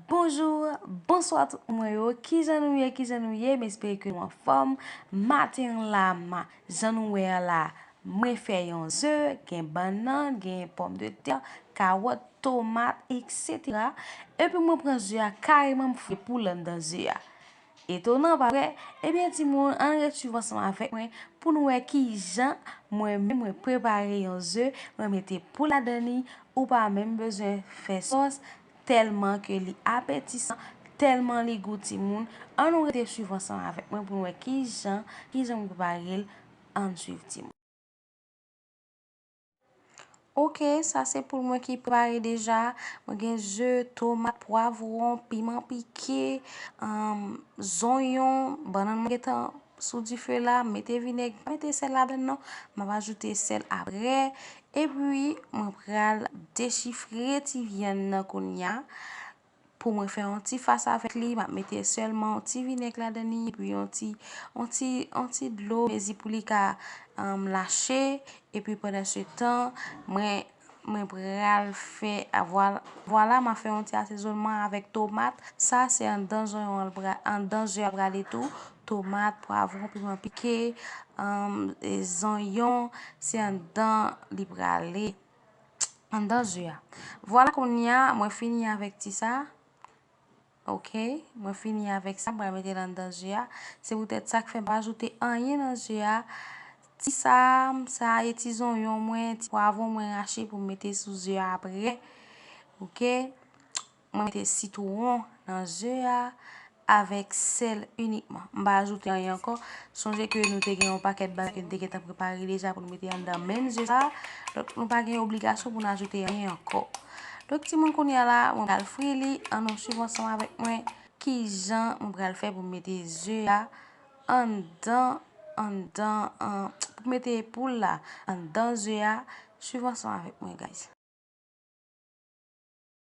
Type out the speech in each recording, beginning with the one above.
Bonjour, bonsoir tout moun mwen yo, kijan nou ye, kijan nou ye, m espere ke nou anfòm, maten an la, ma, jan nou wè an la, mwen fè yon ze, gen bannan, gen pòm de tè, kawòt, tomat, eksetera, epi mwen pran ze a kareman m fè poul anndan ze a. Etonan, pa vre? Ebyen timoun, ann ret swiv ansanm avèk mwen pou nou wè ki jan mwen menm mwen prepare yon ze, mwen mete pou ladan li, ou pa menm bezwen fè sòs, tèlman ke li apetisan, tèlman li gou timoun, ann nou rete swiv ansanm avèk mwen pou nou wè ki jan, ki jan mwen prepare l, ann swiv timoun. Ok sa se poul mwen ki prare deja mwen gen ze tomat pwavron piman pike zonyon bannan mwen gentan sou dife la mete vinèg pa mete sèl ladann non map ajoute sèl aprè epi mwen pral dechifre ti vyann nan kounya pou mwen fè yon ti fas avèk li, map mete sèlman yon ti vinèg ladan li epi yon ti yon ti yon ti dlo mezi pou li ka lache epi pandan se tan mwen mwen pral fè vwala map fè yon ti asezonman avèk tomat sa se andan zonyon an pral andan ze a prale tou tomat, pwavron, piman pike zonyon se andan li prale. Anndan ze a. Vwala kounye a mwen fini avèk ti sa. Ok. Mwen fini avèk sa. M pral mete l anndan ze a. Se poutèt sa k fè m pa ajoute anyen nan ze a. Ti sa a, m sa a e ti zonyon mwen, ti pwavon mwen rache pou m mete sou ze a aprè. Ok. Mwen mete sitwon nan ze a avèk sèl inikman. M pa ajoute anyen ankò. Sonje ke nou te gen yon pakèt bagay ke nou te gentan prepare deja pou nou mete anndan menm ze sa a. Donk nou pa gen obligasyon pou nou ajoute anyen ankò. Donk timoun kounye a la, mwen pral fri li. An nou swiv ansanm avèk mwen kijan mwen pral fè pou m mete ze a anndan, anndan, an, pou m mete poul la anndan ze a. Swiv ansanm avèk mwen guys.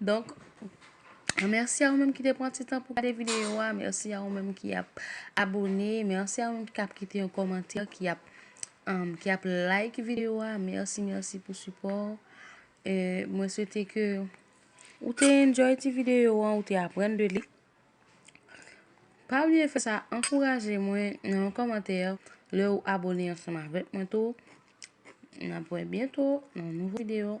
Donk, mèsi a ou menm ki te pran ti tan pou gade videyo a, mèsi a ou menm ki ap abone, mèsi a ou menm ki ap kite yon komantè, ki ap um, ki ap like videyo a, mèsi mèsi pou sipò. E mwen swete ke ou te enjoy ti videyo an, ou te aprann de li. Pa bliye fè sa, ankouraje mwen nan yon komantè lè ou abone ansanm avèk mwen tou. N ap wè byento nan yon nouvo videyo.